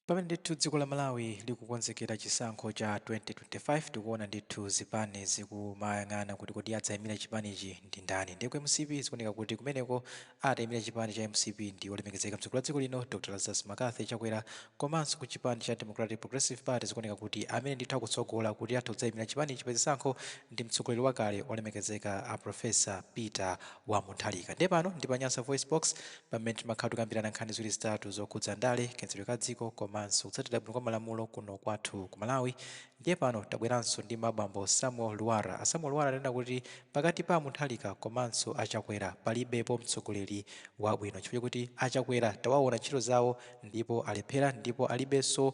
Pamene ndithu dziko la Malawi likukonzekera chisankho cha 2025 tikuona ndithu zipani zikumayang'ana kuti kodi adzaimira chipanichi ndi ndani ndiye ku mcp zikuoneka kuti kumeneko ataimire chipani cha mcp ndi olemekezeka mtsogoleri wa dziko lino Dr Lazarus Mccarthy Chakwera komanso ku chipani cha Democratic Progressive Party zikuoneka kuti amene ndithu akutsogola kuti atha kudzaimira chipanichi pa zisankho ndi mtsogoleri wakale olemekezeka a Professor Peter wa Mutharika. Ndiye pano ndi pa Nyasa VoiceBox pamene timakhala tikukambirana nkhani ziwiri zitatu zokhudza ndale, kayendetsedwe ka dziko komanso kutsatira bwino kwa malamulo kuno kwathu ku Malawi. Ndiye pano tabweranso ndi ma bambo Samuel Lwara. A Samuel Lwara anena kuti pakati pa a Mutharika komanso a Chakwera palibepo mtsogoleri wabwino chifukwa chakuti a Chakwera tawaona ntchito zawo ndipo alephera ndipo alibenso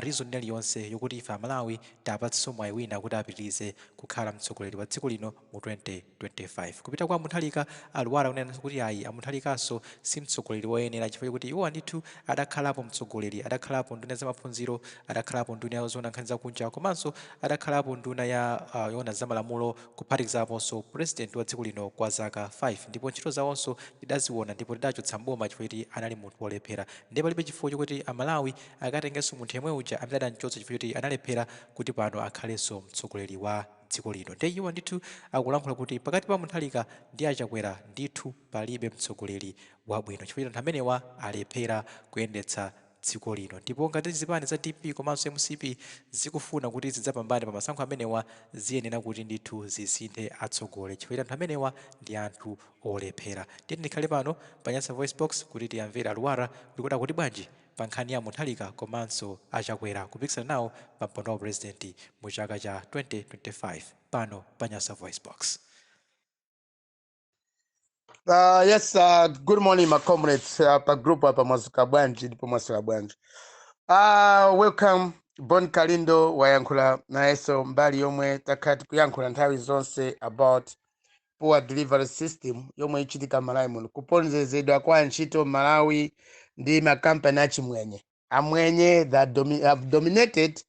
reason ina iliyonse yokuti ife a Malawi tiapatsenso mwayi wina kuti apitirize kukhala mtsogoleri wa dziko lino mu 2025. Kupita kwa a Muntharika, a Lwara anenanso kuti ayi a Muntharikanso si mtsogoleri woyenera chifukwa chokuti iwowa ndithu adakhalapo mtsogoleri, adakhalapo nduna ya zamaphunziro, adakhalapo nduna ya zoona nkhani za kunja komanso adakhalapo nduna ya yoona za malamulo kuphatikizaponso pulezidenti wa dziko lino kwa zaka 5 ndipo ntchito zawonso tidaziona ndipo tidawachotsa m'boma chifukwa choti anali munthu wolephera ndiye palibe chifukwa chokuti a Malawi akatengenso munthu yemwe uja amene adamchotsa chifukwa choti analephera kuti pano akhalenso mtsogoleri wa dziko lino nde iwo ndithu akulankhula kuti pakati pa munthalika ndi achakwera ndithu palibe mtsogoleri wabwino chifukwa choti anthu amenewa alephera kuyendetsa dziko lino ndipo ngati zipani za dpp komanso mcp zikufuna kuti zidzapambane pa masankho amenewa ziyenera kuti ndithu zisinthe atsogoleri chifukwa choti anthu amenewa ndi anthu olephera ndiye tikhale pano pa nyasa voice box kuti tiwamvere a Lwara kuti kodi akuti bwanji pa nkhani ya a Mutharika komanso a Chakwera kupikisana nawo pa mpando wa u President mu chaka cha 2025 pano pa Nyasa VoiceBox. Uh, yes, uh, good morning, my comrades. Uh, pa group apa mwadzuka bwanji ndipo mwaswera bwanji. Uh, welcome Bon Kalindo wayankhula nayenso mbali yomwe takhala tikuyankhula nthawi zonse about poor delivery system yomwe ichitika m'Malawi muno, kuponderezedwa kwa antchito m'Malawi ndi ma company achimwenye, amwenye that domi, have dominated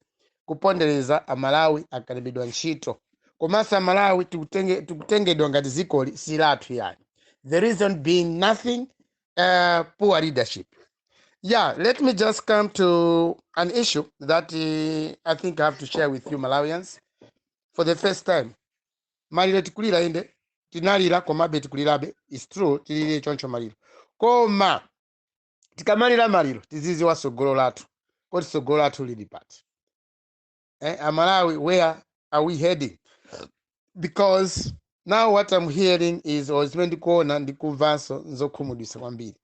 kupondereza amalawi akalembedwa ntchito komanso amalawi tikutenge, tikutengedwa ngati dzikoli si lathu ayi the reason being nothing uh, poor leadership yeah let me just come to an issue that uh, i think i have to share with you malawians for the first time maliro tikulira inde tinalira komabe tikulirabe it's true tilire choncho maliro koma tikamalira maliro tizidziwa tsogolo lathu kodi tsogolo lathu lili pati eh, amalawi where are we heading because now what i'm hearing is or zimene ndikuona ndikumvanso nzokhumudwitsa kwambiri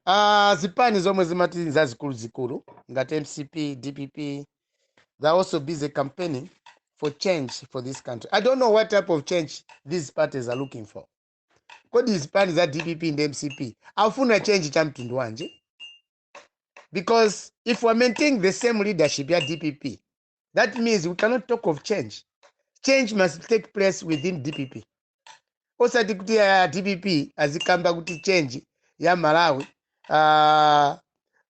Ah, zipani zomwe zimati ndi zazikuluzikulu ngati mcp dpp they are also busy campaign for change for this country i don't know what type of change these parties are looking for kodi zipani za dpp and mcp akufuna change cha mtundu wanji because if we are maintaining the same leadership ya dpp that means we cannot talk of change change must take place within dpp osati kuti a dpp azikamba kuti change ya malawi uh,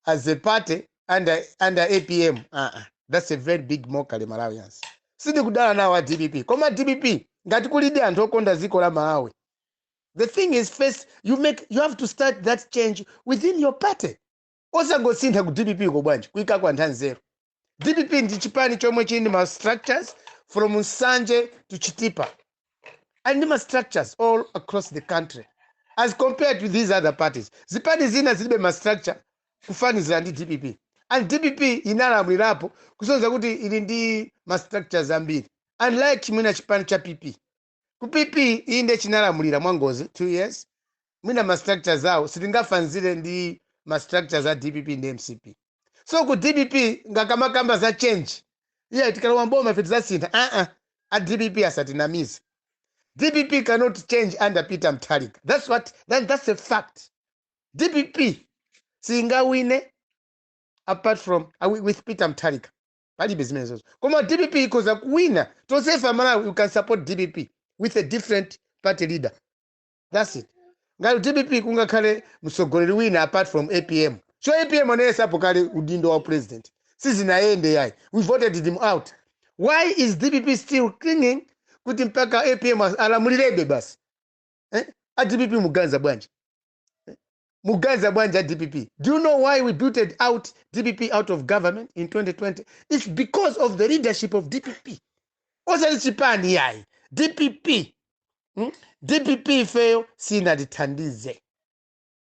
as a party under, under apm uh -uh. that's a very big mockery malawians sindikudana nawo a dpp koma dpp ngati kulidi anthu okonda dziko la malawi the thing is first you make you have to start that change within your party osangosintha ku dpp ko bwanji kuikako anthu anzeru dpp ndi chipani chomwe chili ndi ma structures from nsanje to chitipa ali ndi ma structures all across the country as compared to these other parties zipani zina zilibe ma structure kufanizira ndi dpp and dpp inalamulirapo kusonyeza kuti ili ndi ma structures ambiri unlike chi mwina chipani cha pp ku pp inde chinalamulira mwangozi 2 years mwina ma structures awo sitingafanzire ndi ma structures a dpp ndi mcp so ku dpp nkakamakamba za change yeah tikalowa mboma ife tidzasintha aa a dpp asatinamize dpp cannot change under peter mutharika that's what that, that's a fact dpp singawine apart from uh, wi- with peter mutharika palibe zimenezo koma dpp ikhoza kuwina tonsefe amalawi we can support dpp with a different party leader that's it ngati dpp kungakhale mtsogoleri wina apart from apm so apm anayesapo kale udindo wa upresident sizinayende yayi we voted them out why is dpp still clinging kuti mpaka apm alamulirebe basi eh? a dpp mukuganiza bwanji mukuganiza bwanji a dpp do you know why we booted out dpp out of government in 2020 it's because of the leadership of dpp osali chipani yayi dpp hmm? dpp ifeyo sinatithandize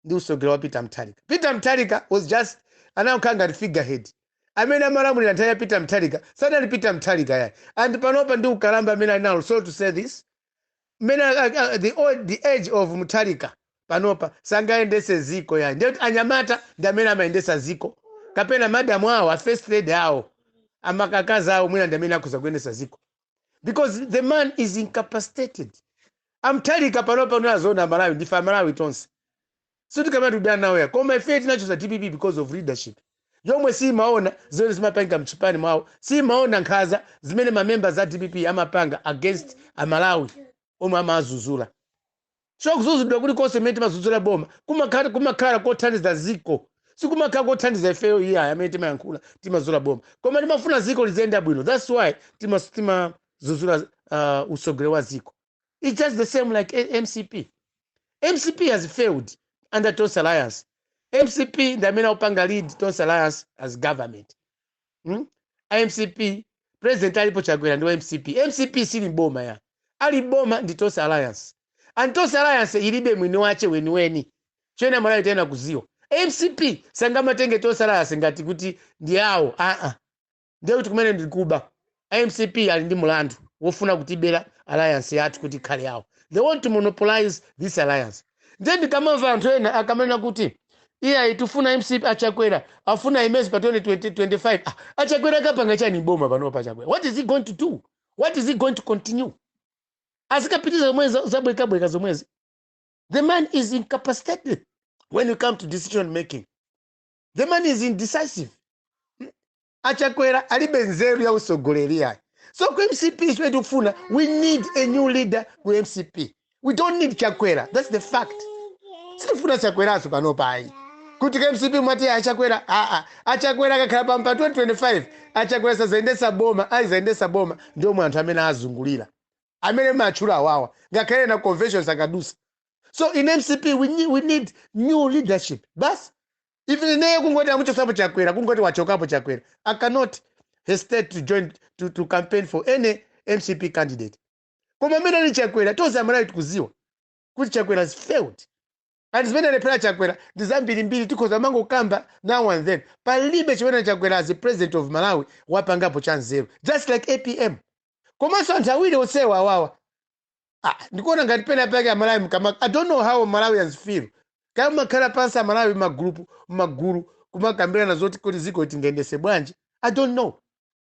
ndi usogoleri wa peter mutharika peter mutharika was just anakhala ngati figurehead amene amalamulira nthawi ya peter mutharika sanali peter mutharika yayi and panopa ndi ukalamba amene ali nawo so to say this mmene a- a- a- the old the age of mutharika panopa sangayendese ziko yayi ndiye kuti anyamata ndi amene amayendesa ziko kapena madamu awo a first lady awo amaka akazi awo mwina ndi amene akhoza kuyendesa ziko because the man is incapacitated a mutharika panopa unazoona amalawi ndife amalawi tonse Sitikuti tikudana nawo yayi koma ifeyo tinachotsa dpp because of leadership yomwe siyimaona zimene zimapangika mchipani mwawo, siyimaona nkhaza zimene ma members a dpp amapanga against a Malawi omwe amawazuzula. So kuzuzulidwa kulikonse kumene timazuzula boma kumakhala kumakhala kothandiza ziko, sikumakhala kothandiza ifeyo iyayi amene timayankhula timazuzula boma koma timafuna ziko liziyenda bwino that's why tima timazuzula uh, utsogoleri wa ziko. It's just the same like A- mcp mcp has failed under tonse alliance mcp ndi amene akupanga lead tonse alliance as government hmm? a mcp president alipo chakwera ndi wa mcp mcp sili m'boma yayi ali m'boma ndi tonse alliance and tonse alliance ilibe mwini wache weniweni choyenera amalawi tiyenera kuziwa mcp sangamatenge tonse alliance ngati kuti ndi yawo aa ndiye kuti kumene ndi kuba a mcp ali ndi mulandu wofuna kutibera alliance yathu kuti ikhale yawo they want to monopolize this alliance ndiye ndikamamva anthu ena akamanena kuti iyayi tikufuna mcp achakwera tifuna aimenso pa 2025 ah, achakwera akapanga chani m'boma panopa achakwera what is he going to do what is he going to continue azikapitiriza zomwe za- zabwekabweka zomwezi the man is incapacitated when you come to decision making the man is indecisive Hmm? achakwera alibe nzeru ya usogoleri yayi so ku mcp chimene tikufuna we need a new leader ku mcp we don't need chakwera that's the fact sitifuna chakweraso pano pa ayi kuti ku mcp mwati achakwera aa achakwera akakhala pampa 2025 achakwera sazayendetsa boma azayendetsa boma ndi omwe anthu amene azungulira amene matchula awawa ngakhale pa convention sakadusa so in mcp we need, we need new leadership basi even ineyo kungoti amuchotsapo chakwera kungoti wachokapo chakwera i cannot hesitate to join to, to campaign for any mcp candidate koma amene ali chakwera tonse amalawi tikuziwa kuti chakwera has failed and zimene alephera chakwera ndi zambirimbiri tikhoza kumangokamba now and then palibe chimene chakwera as a president of malawi wapangapo cha nzeru just like apm komanso anthu awiri onsewa awawa Ah, ndikuona ngati pena pake amalawi mkama i don't know how malawians feel kaya makhala pansi amalawi magulupu magulu kumakambirana zoti kodi dziko tingayendese bwanji i don't know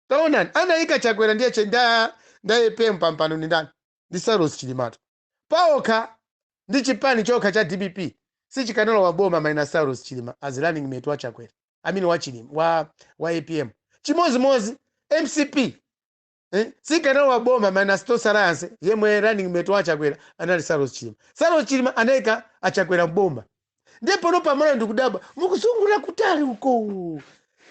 taonani anaika chakwera ndiye che- nda nda apm pampando ndi ndani ndi saulos chilima paokha ndi chipani chokha cha dpp sichikanalowa m'boma minus saulos chilima as running mate wa chakwera amene wa chilima wa, wa apm chimozimozi mcp Eh? Sikanalowa m'boma minus Tonse Alliance yemwe running mate wa Chakwera anali Saulos Chilima. Saulos Chilima anaika a Chakwera m'boma. Ndiye pano panopa ndikudabwa mukuzungulira kutali uko.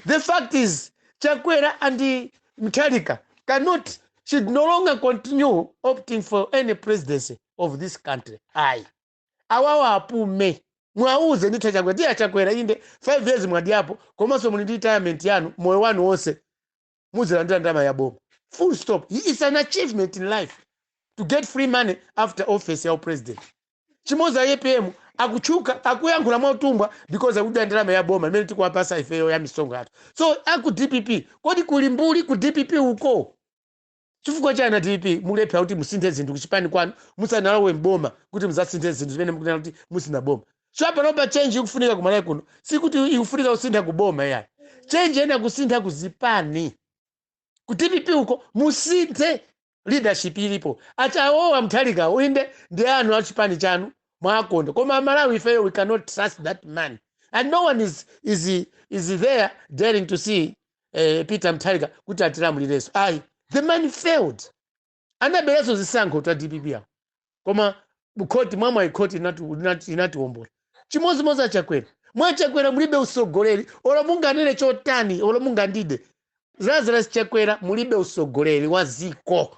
The fact is Chakwera and Mutharika cannot should no longer continue opting for any presidency of this country. Ayi. Awawa apume. Mwauze ndithu Chakwera. Ndiye Chakwera inde 5 years mwadiyapo komanso muli ndi retirement yanu moyo wanu wonse. mudzilandira ndalama ya boma full stop its an achievement in life to get free money after office ya u president chimodzi a apm akutchuka akuyankhula mwautumbwa because akudya ndalama ya boma imene tikuwapasa ifeyo ya misonkho yathu so aku dpp kodi kuli mbuli ku dpp uko Chifukwa chani a dpp mukulephela kuti musinthe zinthu kuchipani kwanu musanalowe m'boma kuti muzasinthe zinthu zimene mukunena kuti muzasinthe boma chifukwa panopa change ikufunika ku Malawi kuno sikuti ikufunika kusintha ku boma iyayi change iyenera kusintha ku zipani ku dpp uko musinthe leadership ilipo atcheya awowa Mutharikawo inde ndi anu a chipani chanu mwakonda koma amalawi ifeyo we cannot trust that man and no one is, is, is there daring to see eh, Peter Mutharika kuti atilamulirenso ayi the man failed anaberanso zisankho ta dpp awo koma khoti mwamwayi khoti linatiwombola chimodzimodzi achakwera mwachakwera mulibe usogoleri olo munganene chotani olo mungandide lazarus chakwera mulibe usogoleri wa ziko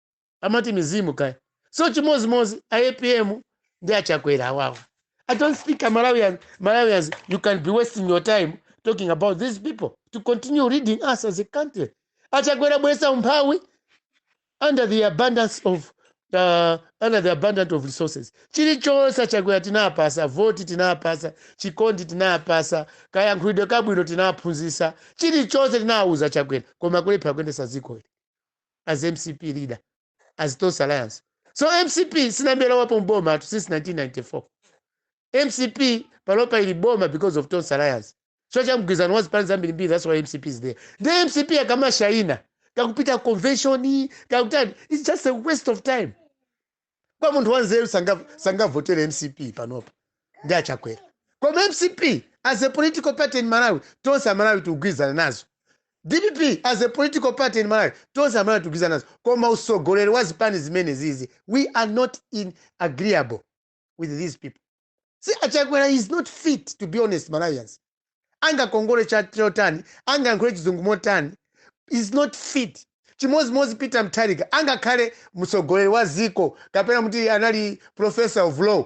amati mizimu kaya so chimozimozi a apm ndi achakwera awawa I don't think Malawians you can be wasting your time talking about these people to continue leading us as a country a Chakwera abwesa umphawi under the abundance of uh, under the abundance of resources chilichonse achakwera tinapasa voti tinapasa chikondi tinapasa kayankhulidwe kabwino tinaphunzisa chilichonse tinawuza achakwera koma kulepha kuyendesa dziko ili as mcp leader as Tonse Alliance. So mcp sinalowepo mbomatu since 1994. Mcp panopa ili m'boma because of Tonse Alliance. Chifukwa cha mgwirizano wa zipani zambirimbiri that's why mcp is there. Nde mcp akamashaina akupita convention akutani it's just a waste of time. kwa munthu wanzeru sangavotere mcp panopa ndi achakwera koma mcp as a political party in malawi tonse amalawi tikugwirizana nazo dpp as a political party in malawi tonse amalawi tikugwirizana nazo koma usogoleri wa zipani zimene zizi we are not in agreeable with these people see achakwera is not fit to be honest malawians angakongole chotani angayankhule chizungu motani is not fit chimodzimodzi Peter Mutharika angakhale mtsogoleri wa ziko kapena muti anali professor of law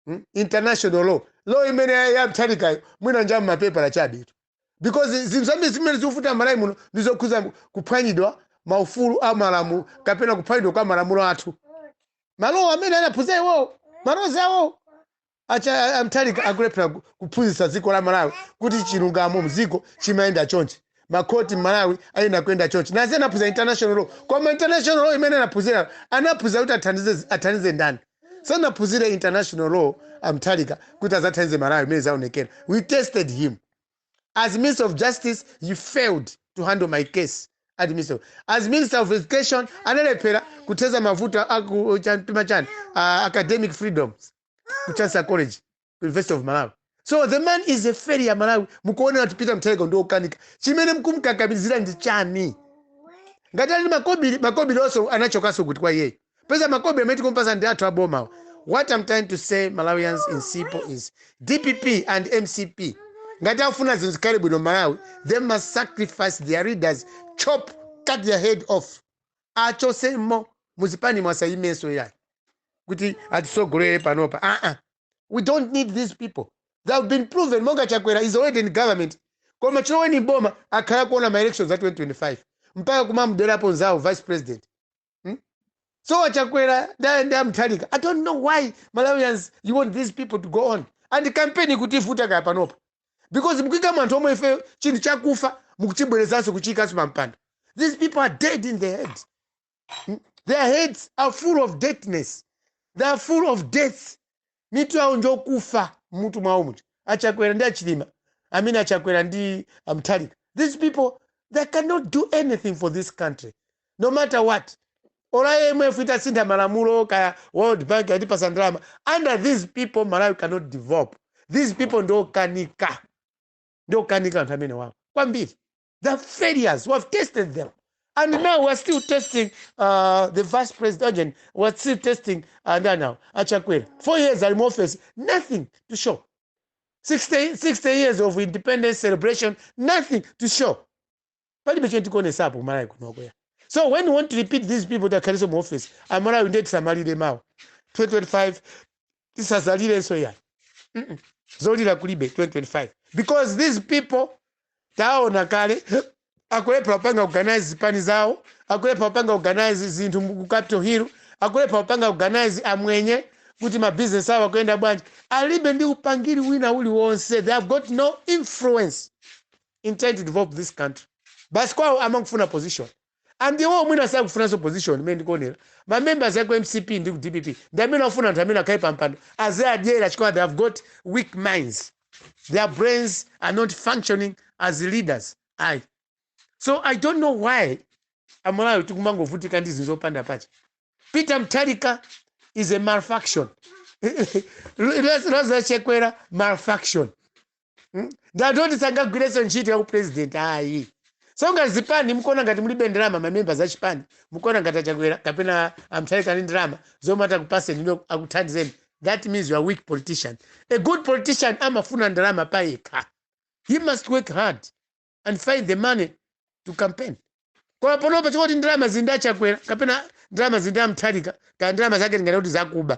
mm? international law law imene ya Mutharikayo mwina nja mmapepala chabetu because zinthu zambiri zimene zikuvuta malawi muno ndi zokhuza kuphwanyidwa maufulu a malamulo kapena kuphwanyidwa kwa malamulo athu ma law amene anaphunzira iwowo ma laws awowo atcheya a Mutharika akulephera ku- kuphunzitsa dziko la malawi kuti chilungamo mdziko chimayenda chonchi makhoti mmalawi ayenera kuyenda chonchi nazi anaphunzira international law koma international law imene anaphunzira anaphunzira kuti athandize athandize ndani Sanaphuzire international law a Mthalika kuti azathandize Malawi mene zaonekera. We tested him as minister of justice he failed to handle my case at minister of, as minister of education analephera kutheza mavuto aku chan- timachani ah, academic freedoms ku Chancellor College University of Malawi. So the man is a failure Malawi. Mukuona kuti Peter Mutharika ndi okanika. Chimene mkumkakamizira ndi chani? Ngati ali makobiri, makobiri also anachokanso kwa iyeyo. Paja makobiri amene tikumpasa ndi athu abomawa. What I'm trying to say Malawians in simple is DPP and MCP. Ngati afuna zinthu zikhale bwino Malawi, they must sacrifice their leaders, chop, cut their head off. Achotsemo muzipani asayimenso yayi. Kuti atisogolere panopa. Ah ah. we don't need these people they have been proven monga chakwera is already in government koma chilowereni mboma akhala kuona ma elections a 2025 mpaka kumamderapo nzawo vice president hmm? so chakwera ndi amthalika i don't know why malawians you want these people to go on and campaign kuti ivute kaya panopa because mkuika munthu omwe uja chinthu chakufa mukuchibwerezanso kuchiikanso pampando these people are dead in the head their heads are full of deadness they are full of death mitu yawo njokufa mutu mwawo muja achakwera ndi achilima i mean achakwera ndi amthalika these people they cannot do anything for this country no matter what olo imf itasintha malamulo kaya world bank itatipasa ndalama under these people malawi cannot develop these people ndiokanika ndiokanika anthu amenewawa kwambiri the failures we have tested them and now weare still testing uh, the vice president urgent weare still testing uh, ndanawo achakwera four years ali mu office nothing to show 60, 60 years of independence celebration nothing to show palibe chimene tikuonesapo kumalawi kunokoya so when you want to repeat these people takhaliso mu office amalawi ndiye tisamalire mawa 2025 tisadzalirenso yayi Mm-mm. zolira kulibe 2025 because these people taona kale akulephera kupanga organize zipani zawo akulephera kupanga organize zinthu mu- ku capital hill akulephera kupanga organize amwenye kuti mabizinesi awo akuyenda bwanji alibe ndi upangiri wina uliwonse they have got no influence in trying to develop this country basi kwawo amangofuna position and iwowo mwina sakufunanso position mene ndikuonera ma members aku mcp ndi ku dpp ndi amene akufuna anthu amenewa akhale pa mpando aziadyera chifukwa they have got weak minds their brains are not functioning as leaders ayi so i don't know why amalawi tikumangovutika ndi zinthu zopanda pake peter mtharika is a malfunction Lazarus chakwera malfunction Hmm? Ndi woti sangagwirenso ntchito ya upresident ayi. So ngati zipani mkuona ngati mulibe ndalama mamembers a chipani mkuona ngati achakwera kapena amthalika ali ndi ndalama zomwe atakupaseni inu akuthandizeni that means you are a weak politician. A good politician amafuna ndalama pa yekha. He must work hard and find the money to campaign. Koma panopa chokuti ndalama zili ndi achakwera kapena ndalama zili ndi amthalika kaya ndalama zake tingati kuti zakuba.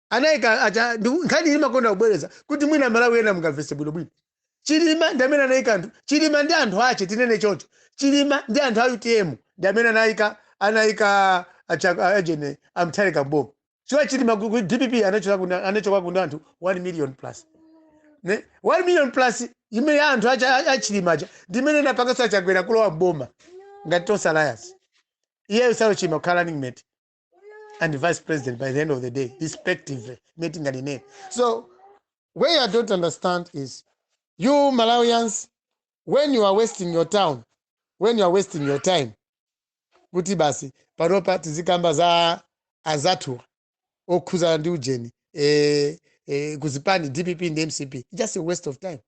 anaika acha ndiku- nkhaniyi ndimakonda kubwereza kuti mwina amalawi ena mungamvese bwinobwino chilima ndi amene anaika anthu chilima ndi anthu ache tinene choncho chilima ndi anthu a utm ndi amene anaika anaika acha- achina mutharika mboma chifukwa chilima ku ku dpp anachoka kuna- anachoka kuna anthu 1 million plus ne 1 million plus imene ija anthu acha- a- a chilima aja ndi imene inapanganso achakwera kulowa mboma ngati tonse alliance iyeyo saulos chilima kukhala running mate and vice president by the end of the day respectively metinganene so where i don't understand is you malawians when you are wasting your town when you are wasting your time kuti basi panopa tizikamba za azathu okhuzana ndi ujeni eh, eh, kuzipani dpp ndi mcp just a waste of time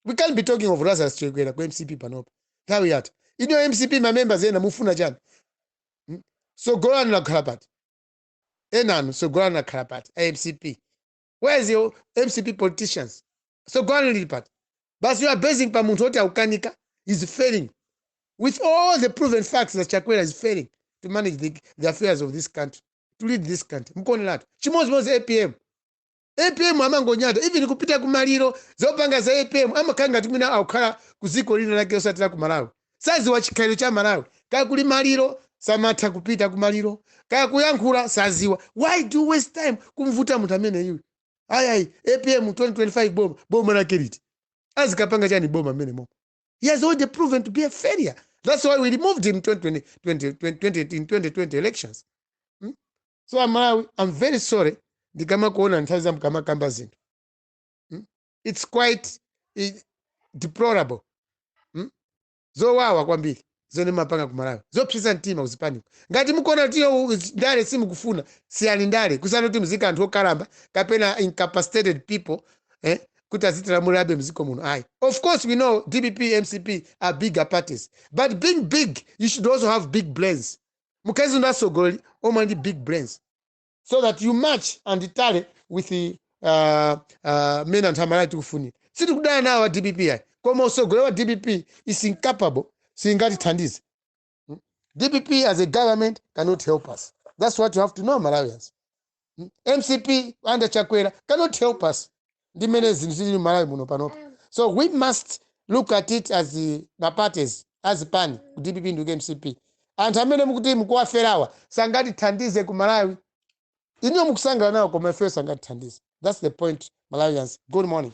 we can't be talking of lazarus chakwera ku mcp panopa nthawi yatha ino mcp ma members ena mufuna chani Hmm? sogolo lanu lakhala pati enanu sogolo lanu lakhala pati a mcp where is your mcp politicians sogolo lanu lili pati but you are basing pa munthu oti akukanika is failing with all the proven facts that chakwera is failing to manage the, the affairs of this country to lead this country mkuoneratu chimodzimodzi apm apm amangonyada even kupita kumaliro zopanga za apm amakhala ngati mwina akukhala ku dziko lina lake osati la ku malawi saziwa chikhalidwe cha malawi kaya kuli maliro samatha kupita kumaliro kaya kuyankhula saziwa why do you waste time kumvota munthu ameneyu ayayi apm 2025 boma boma lake liti azikapanga chani boma mmene momo he has already proven to be a failure that's why we removed him 2020, 2020, 2020 elections so amalawi i am very sorry ndikamakuona nthawi zina mkamakamba zinthu mm? it is quite deplorable mm? zowawa kwambiri zomwe mmapanga kumalawi zopsesa mtima kuzipaniko ngati mukuona kuti yo u- ndale simukufuna siyani ndale kusiyana kuti muziika anthu okalamba kapena incapacitated people eh, kuti azitilamulirabe mziko muno ayi of course we know dpp mcp are bigger parties but being big you should also have big brains mukhalenso ndi atsogoleri omwe ali ndi big brains so that you match and tally with uh, uh, mmene anthu amalawi tikufunira sitikudana nawo a dpp ayi koma utsogoleri wa dpp is incapable singatithandize dpp as a government cannot help us that's what you have to know malawians mcp under chakwera cannot help us ndi mmene zinthu zili malawi muno panopa so we must look at it as the- ma parties a zipani ku dpp ndi ku mcp anthu amene mukuti mukuwaferawa sangatithandize ku malawi inuyo mukusangala nawo koma ifeyo sangatithandize thats the point malawians good morning